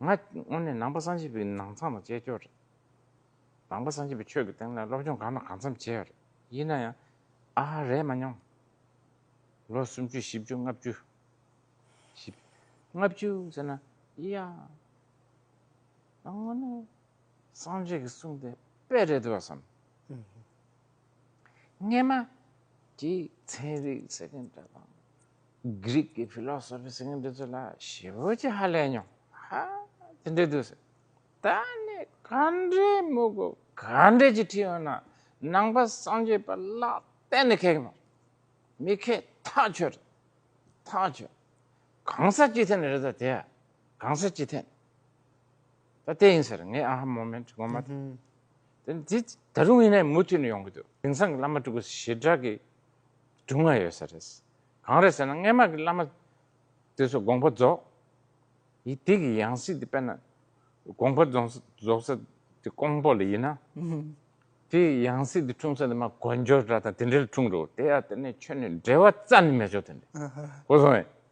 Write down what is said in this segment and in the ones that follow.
ང་དངོས་གནས་ནང་པ་བསམ་བཞིན་པའི་ནང་ཚང་དང་བཅས་ཆོག་རེད། ནང་པ་བསམ་བཞིན་པའི་ཆོས་ཀྱི་སྟེང་ལ་སློབ་སྦྱོང་གང་དང་གང་འཚམ་བྱས་རེད། ཡིན་ན་ཡང་ཨ་ཧ་རེད་མ་མྱོང། ལོ་སུམ་ཅུ་བཞི་བཅུ་ལྔ་བཅུ། བཞི་བཅུ། ལྔ་བཅུ་ཟེར་ན་ཡ། ང་དངོས་གནས་སངས་རྒྱས་ཀྱིས་གསུངས་དེ་དཔེ་རེད་འདུག་བསམ། སྔས་མ། ཀྱི་ཚན་རིག་ཟེར་མཁན་འདྲ་དང། Greek གི Philosophy སེང་གེ་འདི་ཚོ་ལ་ཞེ་བོ་ཅི་ཧ་ལས་མྱོང། ཧ་ཅི་འདྲེ་འདུག་ཟེར། ད་ནི་ག་འདྲེ་མུ་གུ་ག་འདྲེ་ཅིག་ཁྲིད་ཡོང་ན་ནང་པ་སངས་རྒྱས་པ་བླག་གཏན་ནས་ཁེགས་མེད། མི་ཁེགས་ཐག་ཆོད་རེད། ཐག་ཆོད། གང་ཟག་སྤྱི་ཐན་རེད་ད་དེ། གང་ཟག་སྤྱི་ཐན། ད་ལྟས་ཡིན་ཟེར་ངས་ཨ་ཧ་མོ་མེན་ངོ་མ་དེ་ནི་དེ་ད་རུང་ཡིན་ན་མུ་མཐུད་ནས་ཡོང་གི་འདུག་དེང་སང་གི་བླ་མ་སྤྲུལ་སྐུ་ཞེ་དྲག་གི་སྒྲུང་ང་ཡོད་ས་རེད། གང་རེད་ཟེར་ན་སྔན་མ་གི་བླ་མ་དེ་ཚོ་དགོངས་པ་རྫོགས། ཡི་དེ་གི་ཡང་སྲིད་དེ་དཔེར་ན་དགོངས་པ་རྫོགས་ས་དེ་ཀོང་པོ་ལ་ཡིན་ན། དེ་ཡང་སྲིད་དེ་འཁྲུངས་ས་དེ་མ་གོ་འཇོ་འདྲ་དང་དེ་འདྲ་ལ་འཁྲུངས་རོགས་དེ་ཡང་དེ་ནས་ཆོས་ནི་འབྲེལ་བ་རྩ་ནས་མེད་ཆོག་དེ་འདྲ་གོ་སོང་བས།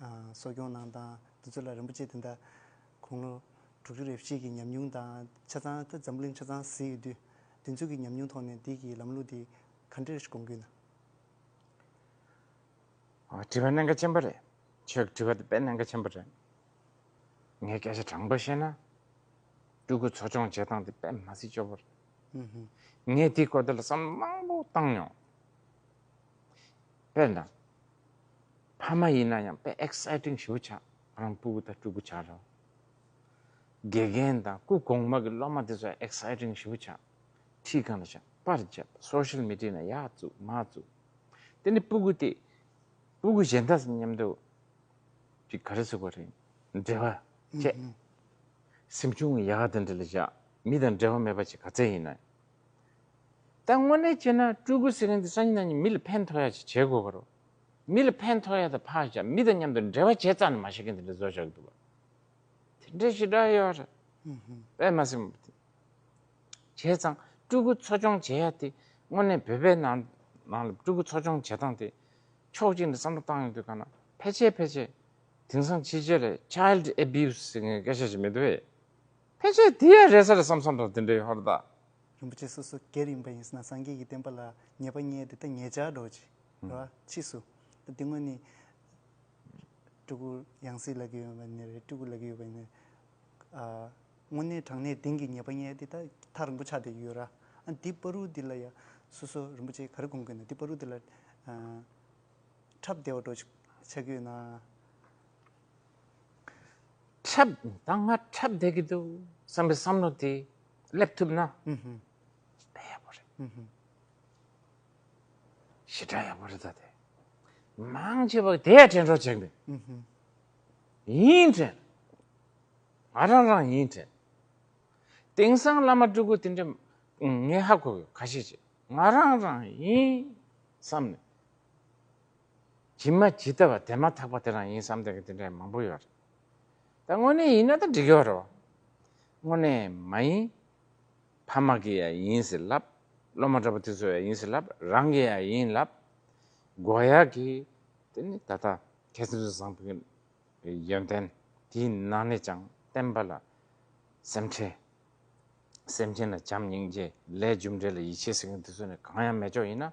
གསོ་སྐྱོང་གནང་སྟངས་དེ་ཚོ་ལ་རིན་པོ་ཆེ་དེ་འདྲ་དགུང་ལོ་དྲུག་ཅུ་རེ་བཞི་གི་ཉམས་མྱོང་དང་ཆ་ཚང་དེ་འཛམ་བུ་གླིང་ཆ་ཚང་གཟིགས་ཡོད་དུས་དེ་ཚོའི་གི་ཉམས་མྱོང་ཐོག་ནས་འདི་གི་ལམ་ལུགས་འདི་ག་འདྲེར་དགོངས་ཀི་ན། དྲི་བ་གནད་འགག་ཆེན་པོ་རེད། ཁྱོད་ཀྱི་དྲི་བ་དེ་དཔེ་གནད་འགག་ཆེན་པོ་རེད། ངས་སྐད་ཆ་དྲང་པོ་བཤད་ན། སྤྲུལ་སྐུ་འཚོ་སྐྱོང་བྱེད་སྟངས་དེ་དཔེ་མ་ཚིག་སྐྱོ་བོ་རེད། ངས་དེའི་སྐོར་དེ་ལ་བསམ་བློ་མང་པོ་བཏང་མྱོང། དཔེར་ན། ཕ་མ་ཡིན་ན་ཡང་དཔེ exciting ཞུ་བྱ་རང་སྤུ་གུ་དང་སྤྲུལ་སྐུ་བྱ་རོགས། དགེ་རྒན་དང་སྐུ་གོང་མ་གི་སློབ་མ་དེ་ཚོ exciting ཞུ་བྱ་ཁྲིད་གང་ལ་བྱ་དཔར་བརྒྱབ social media ན་ཡག་བཙུགས་མ་བཙུགས། དེ་ནི་སྤུ་གུ་དེས་སྤུ་གུ་གཞན་དག་སམ་མཉམ་དུ་ཅིག་ག་རེ་བཙུགས་པ་རེད་འབྲེལ་བ་བཅད། སེམས་ཆུང་ངུས་ཡག་དེ་འདྲ་ལ་བཞག་མི་དང་འབྲེལ་བ་མེད་པ་ཅིག་ག་ཚད་ཡིན་ན། ད་དངོས་གནས་བྱས་ན་སྤྲུལ་སྐུ་ཟེར་མཁན་དེ་སང་ཉིན་ད་ཉིན་མི་ལ་ཕན་ཐོགས་ཡ་ཞིག་བྱེད་དགོས་པ་རུ། མི་ལ་ཕན་ཐོགས་ཡ་དང་ཕག་ཞབས་མི་དང་མཉམ་དུ་འབྲེལ་བ་བྱས་ཙང་ནི་མ་ཤེས་མཁན་དེ་འདྲ་བཟོ་བཞག་གི་འདུག་བ། དེ་འདྲའི་ཞེ་དྲག་ཡོད་རེད། པད་མ་སྲིན་པོ་དེ། བྱས་ཙང་སྤྲུལ་སྐུ་འཚོ་སྐྱོང་བྱེད་ཡ་དེ་དངོས་གནས་བོད་པའི་ནང་ནང་ལ་སྤྲུལ་སྐུ་འཚོ་སྐྱོང་བྱེད་སྟངས་དེ་ཕྱོགས་གཅིག་ནས་བསམ་བློ་བཏང་ཡོང་དུས་གང་ན་ཕལ་ཆེར་ཕལ་ཆེར་དེང་སང་ཕྱི་རྒྱལ་ལ child abuse ཟེར་མཁན་གྱི་སྐད་ཆ་ཞིག་མི་འདུག་བས། ཕལ་ཆེར་དེ་ཡང་རེད་ས་རེད་བསམ་བསམ་དང་དེ་འདྲའི་ཧོར་ཟླ། རིན་པོ་ཆེ་སོ་སོ་སྒེར་ཡིན་པ་ཡིན་ན་སངས་རྒྱས་ཀྱི་བསྟན་པ་ལ་ཉེས་པ་བསྙད་དེ་ད་ངེད་ཅག་འགྲོ་ཅིག་རེད་བ་ཕྱིས་སུ་འདི་དངོས་ནི་སྤྲུལ་སྐུ་ཡང་སྲིད་ལ་གི་ཡོད་པ་ནི་རེད་སྤྲུལ་སྐུ་ལ་གི་ཡོད་པ་ཡིན་ན་དངོས་གནས་དྲང་གནས་དེང་གི་ཉེས་པ་བསྙད་དེ་ད་ཐག་རིན་པོ་ཆགས་དེ་ཡོད་ར་ཨ་འདི་པ་རུ་འདི་ལ་ཡང་སོ་སོ་རིན་པོ་ཆེ་ག་རེ་དགོངས་དགོས་ན་འདི་པ་རུ་འདི་ལ་འཁྲབ་བདེ་བ་འགྲོ་ཆགས་ཀྱི་ཡོད་ན། འཁྲབ་ད་ང་འཁྲབ་བསྡད་ཀྱི་འདུག་བསམ་པའི་བསམ་བློ་དེ་སླེབས་ཐུབ་ན་ད་ཡག་པོ་རེད། ཞེ་དྲག་ཡག་པོ་རེད་ད་དེ། མང་ཆེ་བ་དེ་ཡང་དྲན་གྲོགས་བྱེད་མི་ཡིན་དྲན། ང་རང་རང་ཡིན་དྲན། དེང་སང་བླ་མ་སྤྲུལ་སྐུ་དེ་འདྲ་ངས་ཧ་གོ་གི་ག་ཤེད་ཅིག་ང་རང་རང་ཡིན་བསམ་ནས། ཇི་མ་ཇི་ལྟ་བ་དེ་མ་ཐག་པ་དེ་རང་ཡིན་བསམ་སྟེ་དེ་འདྲ་མང་པོ་ཡོད་རེད། ད་དངོས་གནས་ཡིན་ན་ད་འགྲིག་གི་བ་རེད། དངོས་གནས་མ་ཡིན། ཕ་མ་གི་ཡ་ཡིན་ཟེར་ལབ། སློབ་མ་འདྲ་པོ་དེ་ཚོ་ཡ་ཡིན་ཟེར་ལབ་རང་གི་ཡ་ཡིན་ལབ། མགོ་ཡ་གི། དེ་ནི་ད་ལྟ་ཁྱེད་སེམས་སུ་བཟང་པོའི་ཡོན་ཏན་དེའི་ནང་ནས་ཀྱང་བསྟན་པ་ལ་སེམས་ཁྲལ། སེམས་ཅན་ལ་བྱམས་སྙིང་རྗེ་ལས་རྒྱུ་འབྲས་ལ་ཡིད་ཆེས་ཟེར་མཁན་དེ་ཚོ་ནི་གང་ཡང་མེད་ཅོག་ཡིན་ན།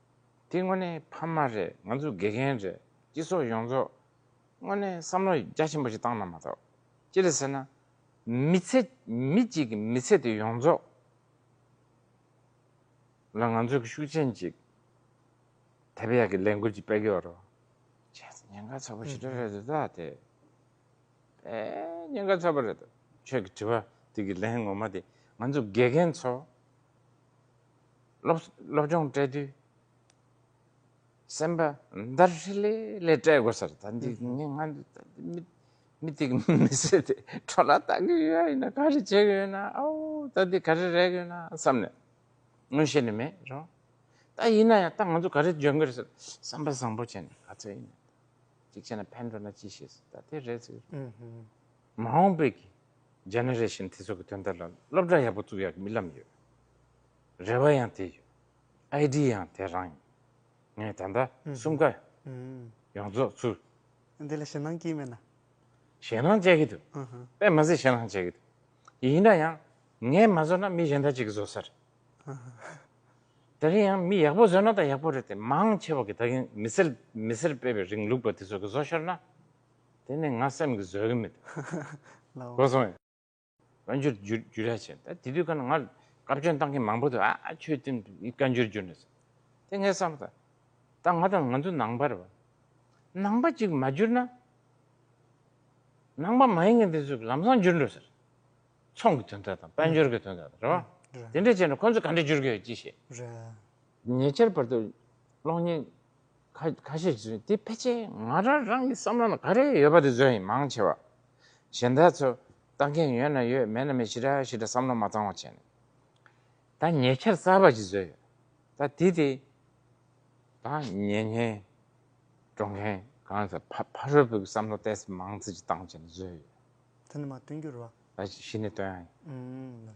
དེ་དངོས་གནས་ཕ་མ་རེད་ང་ཚོ་དགེ་རྒན་རེད་སྤྱི་ཚོགས་ཡོངས་རྫོགས་དངོས་གནས་བསམ་བློ་རྒྱ་ཆེན་པོ་ཞིག་བཏང་ན་མ་གཏོགས་ཅི་རེད་ཟེར་ན། མི་ཚེ་མི་གཅིག་གི་མི་ཚེ་དེ་ཡོངས་རྫོགས་ལ་ང་ཚོ་གི་ཤུགས་ཆེན་གཅིག་དེ་བས་ཡག་གི་ལས་འགུལ་གཅིག་སྤེལ་གི་ཡོད་རོ། བྱས་ཚེ་ཉེན་ཁ་ཚ་པོ་ཞིག་རེད་རེད་འདུག་ད་དེ་དཔེ་ཉེན་ཁ་ཚ་པོ་རེད་འདུག་ཁྱོད་ཀྱི་དྲི་བ་དེ་གི་ལན་ངོ་མ་དེ་ང་ཚོ་དགེ་རྒན་ཚོ། སློབ་སྦྱོང་སྤྲད་དུས་སེམས་པ་འདར་ཧྲི་ལེ་ལེ་སྤྲད་དགོས་ཟེར་ད་འདི་ངས་ང་མི་ཏིག་མི་བཟོས་ཏེ་ཁྲོ་ལ་བལྟ་གི་ཡོད་ཡིན་ན་ག་རེ་བྱེད་གི་ཡོད་ན་ཨོ་ད་འདི་ག་རེ་རེག་ཡོད་ན་བསམ་ནས་ངོ་ཤེས་ནི་མེད་རུང་ད་ཡིན་ན་ཡང་ད་ང་ཚོ་ག་རེ་འཇོན་གི་རེད་ཟེར་བསམ་པ་བཟང་པོ་བྱས་ནས་ག་ཚོད་ཡིན་ན་གཅིག་བྱས་ན་ཕན་འགྲོ་ན་ཅི་ཤེས་ཟེར་ད་དེ་རེད་ཟེར། མ་འོངས་པའི Generation དེ་ཚོ་གི་དོན་དག་ལ་སློབ་གྲྭ་ཡག་པོ་བཙུགས་ཡག་གི་རྨི་ལམ་ཡོད། རེ་བ་ཡང་དེ་ཡོད། Idea ཡང་དེ་རང་ཡིན། ངས་ད་ལྟ་གསུམ་ཀ་ཡོངས་རྫོགས་ཚུར། འདི་ལ་ཞེད་སྣང་སྐྱེས་མེད་ན། ཞེད་སྣང་སྐྱེ་གི་འདུག་དཔེ་མ་ཟད་ཞེད་སྣང་སྐྱེ་གི་འདུག་ཡིན་ན་ཡང་ངས་མ་བཟོ་ན་མི་གཞན་དག་ཅིག་གིས་བཟོ་ས་རེད། དེ་རིང་ཡང་མི་ཡག་པོ་བཟོས་ན་དང་ཡག་པོ་རེད་དེ་མང་ཆེ་བ་གི་ད་གིན་མི་སེར་སྤེལ་བའི་རིང་ལུགས་པ་དེ་ཚོ་གིས་བཟོ་ཤོར་ན། དེ་ནི་ང་སེམས་ཀྱི་བཟོད་གི་མི་འདུག། ལོ་སོང་ཡོད། བཀའ་འགྱུར་བརྒྱུད་ར་བྱེད། ད་དེ་དུས་ཁ་ན་ང་བཀའ་བཀྱོན་བཏང་མཁན་མང་པོ་འདུག་ཨ་ཁྱོད་བསྟུན་དུས་ཡིད་བཀའ་འགྱུར་བརྒྱུད་འདྲ་ཟེར། དེ་ངས་བསམ་ད་ད་ང་དང་ང་ཚོ་ནང་པར་བ། ནང་པ་ཅིག་མ་བསྒྱུར་ན། ནང་པ་མ་ཡིན་མཁན་དེ་ཚོས་ལམ་སང་བསྒྱུར་འགྲོ་ཟེར། ཚོང་གི་དོན་དག་དང་དཔལ་འབྱོར་གི་དོན་དག་དང་རེད་བ། དེ་འདྲ་བྱས་ན་ཁོ་ཚོས་ག་འདྲ་བསྒྱུར་གི་ཡོད་ཅེས་བཤད། ཉེ་ཆར་བར་དུ་གློག་བརྙན་ཁ་ཤས་ཀྱིས་དེ་ཕལ་ཆེར་ང་རང་རང་གི་བསམ་བློ་ན་ག་རེ་ཡོད་པ་དེ་བརྗོད་ཡིན་མང་ཆེ་བ་གཞན་དག་ཚོ་ལྟ་མཁན་ཡོད་ན་ཡོད་མེད་ན་མེད་ཞི་དྲག་ཞི་དྲག་བསམ་བློ་མ་གཙང་བ་བྱས་ནས་ད་ཉེ་ཆར་གསར་པ་ཞིག་བཟོས་ཡོད་ད་དེ་དེ་ད་ཉེ་ཉེ་འགྲོ་མཁན་གང་ཟེར་ཕ་ཕ་རོལ་པོའི་བསམ་བློ་གཏད་སོ་མང་ཚིག་གཅིག་བཏང་བྱས་ནས་བཟོས་ཡོད། དེ་ནི་མ་བཏོན་རྒྱུ་རེད་བ། ད་གཞི་ནས་བཏོན་ཡ་ཡིན།